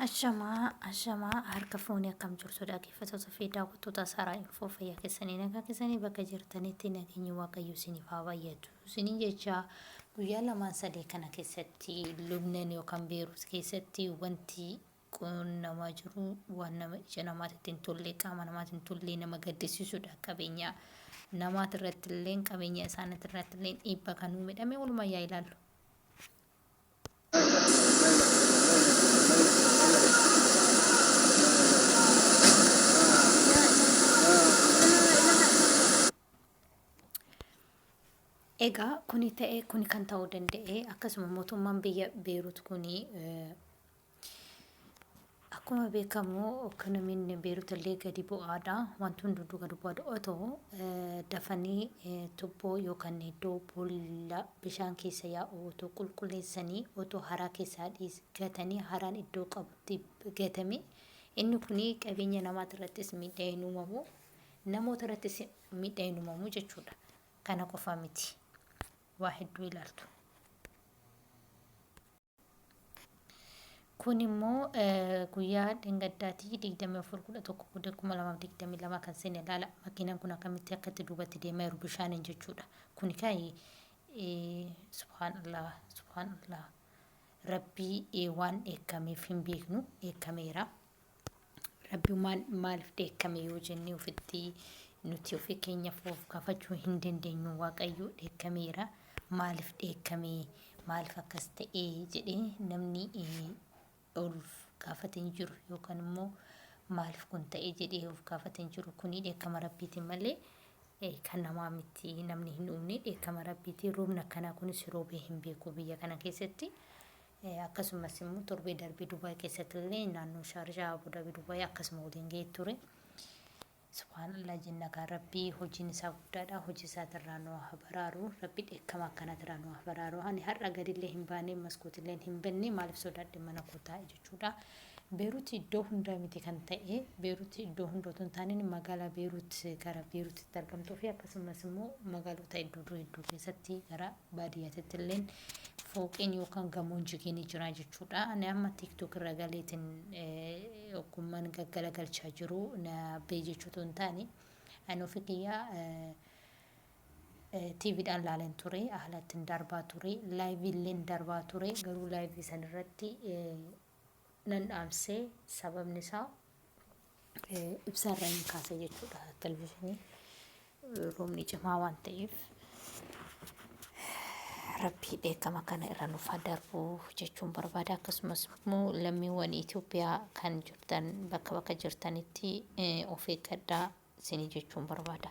Ashamaa ashamaa harka fuunee akkam jirtu dhaggeeffattoota fi daawwattoota Saaraa Infoo fayyaa keessanii nagaa keessanii bakka jirtanitti nageenyi waaqayyo isiniif haa baay'atu isiniin jecha guyyaa lamaan sadee kana keessatti Lubnan yookaan Beeruus keessatti wanti qunnamaa jiru waan nama ija namaatti hin tolle qaama namaatti hin tolle nama gaddisiisudha qabeenya namaati irratti illee qabeenya isaaniitti irratti illee dhiibbaa kan uumedhame walumaa yaa ilaallu. Egaa kuni ta'e kuni kan ta'uu danda'e akkasuma mootummaan biyya Beerut kuni Akkuma beekamu ekonomiin Beerut illee gadi bu'aadha. Wanti hunduu gadi bu'aadha. Otoo dafanii tubboo yookaan iddoo boolla bishaan keessa yaa'u otoo qulqulleessanii otoo haraa keessaa dhiis gatanii haraan iddoo qabutti gatame inni kun qabeenya namaa irrattis miidhaa hin uumamu namoota irrattis miidhaa hin uumamu jechuudha. Kana qofa miti. Waa hedduu ilaaltu. Kun immoo guyyaa dhengaddaatii 24/11/2022 kan seene ilaala. Makiinaan kun akkamitti akka itti duubatti deemaa jiru bishaaniin jechuudha. Kuni kaayi subhaanallah subhaanallah rabbii waan dheekkameef hin beeknu dheekkameera. Rabbumaan maaliif dheekkame yoo jennee ofitti nuti ofii keenya foof kafachuu hin dandeenyu waaqayyoo dheekkameera maaliif dheekkame maaliif akkas ta'ee jedhee namni olf gaafate hin jiru yookaan immoo maaliif kun ta'ee jedhee of gaafate hin jiru kuni dheekkama rabbiitiin malee kan namaa miti namni hin uumne dheekkama rabbiitiin roobni akkanaa kunis roobee hin beeku biyya kana keessatti. Akkasumas immoo torbee darbe Dubai keessatti illee naannoo Shaarjaa, Abu Dhabi, Dubai akkasuma waliin ga'ee ture. Subhaan Allah jenna kaa Rabbi hojiin isaa guddaadha. Hojii isaatirraa nu haa baraaru. Rabbi dheekkama akkanaatirraa nu haa baraaru. Ani har'a gadillee hin baane, maskootilleen hin banne maaliif sodaadhe mana koo taa'e jechuudha. Beeruuti iddoo hundaa miti kan ta'e. Beeruuti iddoo hunda otoo hin taaneen magaalaa Beeruut gara Beeruutitti argamtuu fi akkasumas immoo magaalota iddoo hedduu keessatti gara Baadiyyaa tittilleen fooqeen yookaan gamoon jigee ni jira jechuudha. Ani amma tiktok irra galeetiin ogummaan gaggalagalchaa jiru na bee jechuutu hin taane ani ofi kiyyaa tiiviidhaan laaleen ture haala ittiin darbaa ture laayiviilleen darbaa ture garuu laayivii san irratti nan dhaamsee sababni isaa ibsaarra hin kaasa jechuudha televizhinii roobni cimaa waan ta'eef rabbii dheekama kana irra nuuf haa darbu jechuun barbaada akkasumas immoo lammiiwwan Itoophiyaa kan jirtan bakka bakka jirtanitti of eeggadhaa isinii jechuun barbaada.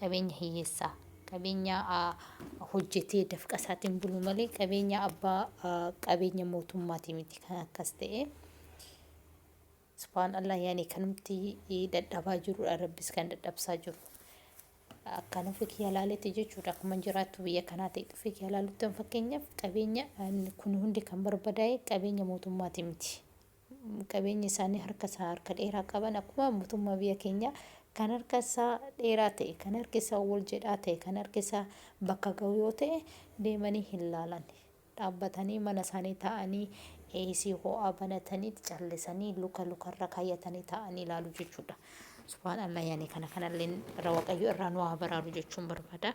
Qabeenya hiyyeessaa. Qabeenya hojjetee dafqa isaatiin bulu malee qabeenya abbaa qabeenya mootummaatii miti kan akkas ta'e. Subhaan Allah yaani kanumti dadhabaa jirudha rabbis kan dadhabsaa jiru. Akkan ofi kiyya laaletti jechuudha akkuman jiraattu biyya kanaa ta'e dhufe kiyya laaluttan fakkeenyaaf qabeenya kun hundi kan barbadaa'e qabeenya mootummaatii miti. qabeenya isaanii harka isaa harka dheeraa qaban akkuma mootummaa biyya keenyaa kan harka isaa dheeraa ta'e kan harki isaa wal jedhaa ta'e kan harki isaa bakka ga'u yoo ta'e deemanii hin laalan dhaabbatanii mana isaanii taa'anii eesii ho'aa banatanii callisanii luka lukarra kaayyatanii taa'anii ilaalu jechuudha. Subhaan Allah yaani kana kanallee irra waaqayyo irraa nu haa baraaru jechuun barbaada.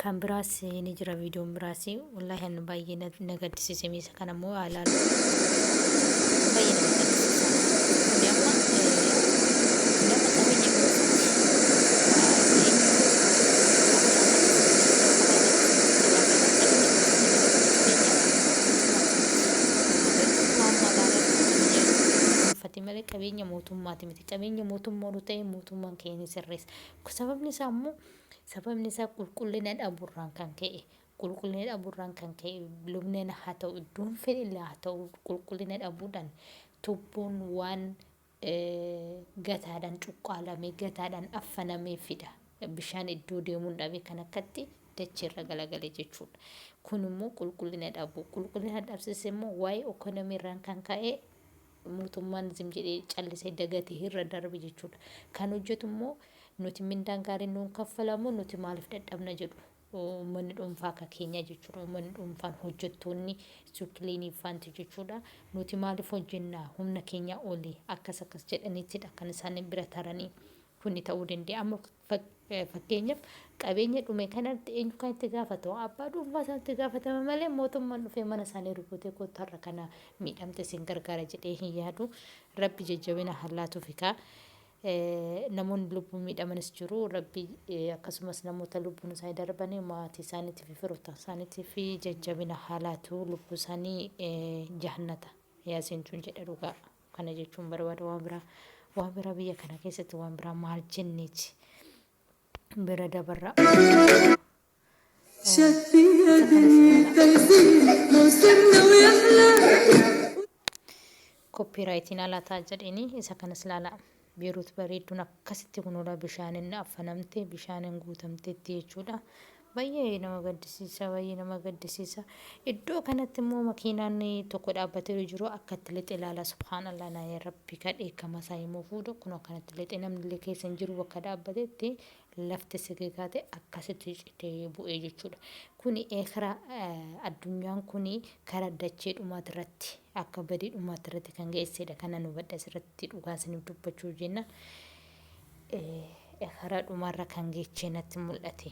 Kan biraas ni jira viidiyoon biraas wallaahi ani baay'ee na na gaddisiise miisa kana immoo haa ilaalu baay'ee nama gaddisiisa kuni amma eh, nama qabeenya dhuunfati malee qabeenya mootummaati miti qabeenya mootummaa yoo ta'e mootummaan keenya sirreessa sababni isaa immoo Sababni isaa qulqullina dhabuurraan kan ka'e qulqullina dhabuurraan kan ka'e lubneen haa ta'u iddoon fedhillee haa ta'u qulqullina dhabuudhaan tubboon waan gataadhaan cuqqaalamee gataadhaan affanamee fida. Bishaan iddoo deemuun dhabe kan akkatti dacheerra galagale jechuudha. Kun immoo qulqullina dhabuu qulqullina dhabsiise immoo waa'ee ikoonomii irraan kan ka'e mootummaan zim jedhee callisee dagate irra darbe jechuudha. Kan hojjetu immoo nuti mindaan gaariin nuun kaffalamu nuti maaliif dadhabna jedhu uummanni dhuunfaa akka keenyaa jechuudha. Uummanni dhuunfaan hojjettoonni suukiliinii faanti jechuudha. Nuti maaliif hojjennaa humna keenyaa olii akkas akkas jedhaniitidha kan isaan bira taranii kuni ta'uu danda'a. Amma Fakkeenyaaf, qabeenya dhume kanatti eenyu kan itti gaafatamu? Abbaa dhuunfaa sanatu itti gaafatama malee mootummaan dhufee mana isaanii rukutee kottu har'a kana miidhamte isin gargaara jedhee hin yaadu. Rabbi jajjabina haa laatuufi kaa. Namoonni lubbuun miidhamanis jiru. Rabbi akkasumas namoota lubbuun isaanii darbanii maatii isaaniitii fi firoottan isaaniitii fi jajjabina haa laatu lubbuu isaanii jahannata yaa seentuun jedha dhugaa. Kana jechuun barbaada waa biraa waa biraa biyya kana keessatti waan biraa maal jenneeti bira dabarra. Koppii raayitiin alaa ta'a jedhini isa kanas laalaa. Beerut bareedduun akkasitti kunoodha bishaanin affanamte bishaanin guutamteetti jechuudha. Baay'ee nama gaddisiisa baay'ee nama gaddisiisa. Iddoo kanatti immoo makiinaan tokko dhaabbatee jiru akkatti lixe ilaala subhaanallah naa yaa rabbi ka dheekkama isaa himuu fuudha kun akkanatti lixe namni illee keessa hin jiru bakka dhaabbatetti lafti sigigaate akkasitti citee bu'ee jechuudha. Kuni eekara addunyaan kuni kara dachee dhumaati irratti akka badii dhumaatti irratti kan geessedha kana nu badha asirratti dhugaan siniif dubbachuu jenna eekara dhumarra kan geechee natti mul'ate.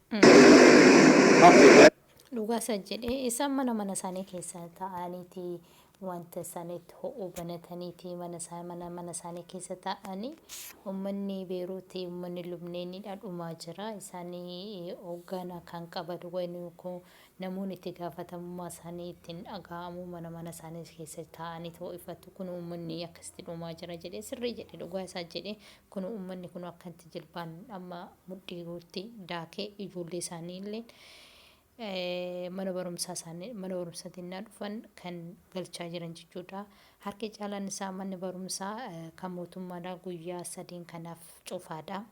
hafe. Dhugaa isa jedhe isaan mana mana isaanii keessa ta'aniiti wanta isaaniitti ho'u banataniiti mana isaa mana mana isaanii keessa ta'anii ummanni beeruuti ummanni lubneeniidha dhumaa jira isaanii hoogganaa kan qabadu wayni kun namoonni itti gaafatamummaa isaanii ittiin dhaga'amu mana mana isaanii keessa ta'aniiti ho'ifatu kun ummanni akkasitti dhumaa jira jedhe sirrii jedhe dhugaa isaa jedhe Kunoo ummanni kunoo akkanatti jilbaan amma mudhii guutti daakee ijoollee isaanii illeen mana barumsaa isaanii mana barumsaatti innaa dhufan kan galchaa jiran jechuudha. Harki caalaan isaa manni barumsaa kan mootummaadhaa guyyaa sadiin kanaaf cufaadha.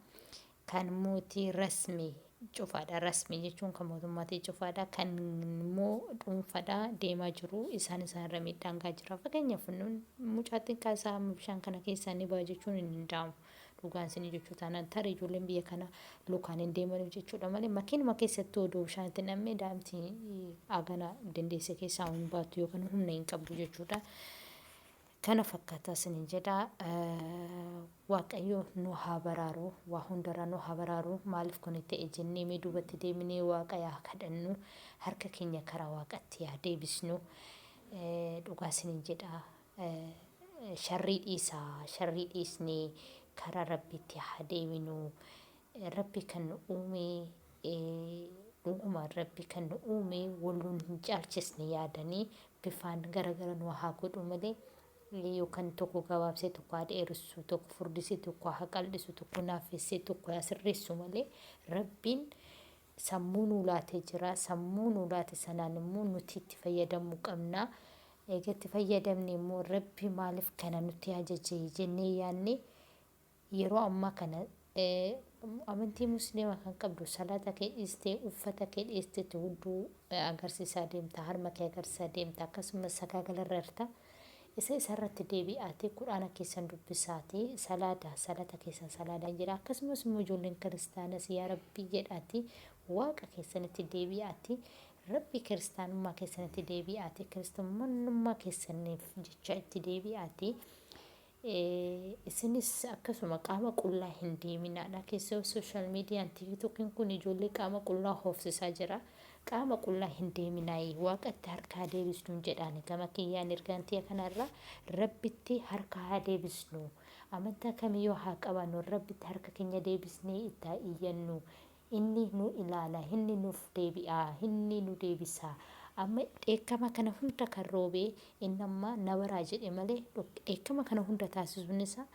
Kan mootii rasmii cufaadha. Rasmii jechuun kan mootummaatii cufaadha. Kan immoo dhuunfadha deemaa jiru. Isaan isaan irra miidhaan gaa jira. Fakkeenyaaf nun mucaa xiqqaa isaa amma bishaan kana keessaa ni ba'a jechuun hin danda'amu. Dhugaan isinii jechuu taanaan tarii ijoolleen biyya kana lukaan hin deemaniif jechuudha malee makiinuma keessatti odoo bishaan itti nam'ee daa'imti agana dandeesse keessaa hin baatu yookaan humna hin qabdu jechuudha. Kana fakkata sinin jedha waaqayyoo nu haa baraaru waa hundaraa nu haa baraaru maalif kuni ta'e jennee mee duubatti deebinee waaqa yaa kadhannu harka keenya karaa waaqatti yaa deebisnu dhugaa sinin jedha sharrii dhiisaa sharrii dhiisnee karaa rabbiitti haa deebinu Rabbi kan nu uume dhugumaan Rabbi kan nu uume wal nun hin caalchisne yaadanii bifaan gara gara nu haa godhu malee yookan tokko gabaabsee tokko haa dheeressu tokko furdisee tokko haa qal'isu tokko naafessee tokko haa sirreessu malee Rabbiin sammuu nuu laatee jira sammuu nuu laate sanaan immoo nuti itti fayyadamuu qabna eega itti fayyadamne immoo Rabbi maaliif kana nutti ajaje jennee yaadne Yeroo ammaa kana amantii musliimaa kan qabdu salaata kee dhiistee uffata kee dheessiteetti hudduu agarsiisaa deemta harma kee agarsiisaa deemta akkasumas sagaagala irra irta isa isa irratti deebi'aatee quraana keessan dubbisaatii salaata salaata keessan salaadaan jedha akkasumas immoo ijoolleen kiristaanas yaa rabbii jedhaati waaqa keessanitti deebi'aati rabbii kiristaanummaa keessanitti deebi'aati kiristaanummaa keessaniif jecha itti deebi'aati Isinis akkasuma qaama qullaa hin deeminaadha. Keessoo social median tiktokin kun ijoollee qaama qullaa hoofsisaa jira. Qaama qullaa hin deeminaayi. Waaqatti harka haa deebisnuun jedhaani. Gama kiyyaan ergaan tiya kanarra rabbitti harka haa deebisnu. Amantaa kamiyyuu haa qabaannu rabbitti harka keenya deebisnee itti haa iyyannu. Inni nu ilaala, inni nuuf deebi'a, inni nu deebisa. Amma dheekkama kana hunda kan roobe inni amma na baraa jedhe malee dheekkama kana hunda taasisuun isaa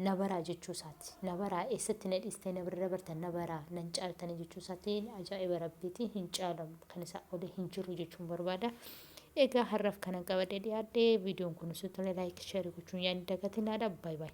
na baraa jechuu isaati. Na baraa eessatti na dhiistanii na bira dabartan na baraa nan caaltanii jechuu isaati ajaa'iba rabbiiti hin caalamu kan isaa oli hin jiru jechuun barbaada. Egaa har'aaf kanan qabadhee dhiyaadhe viidiyoon kun osoo tole laayik sheerii gochuun yaa hin dagatinaadha baay baay.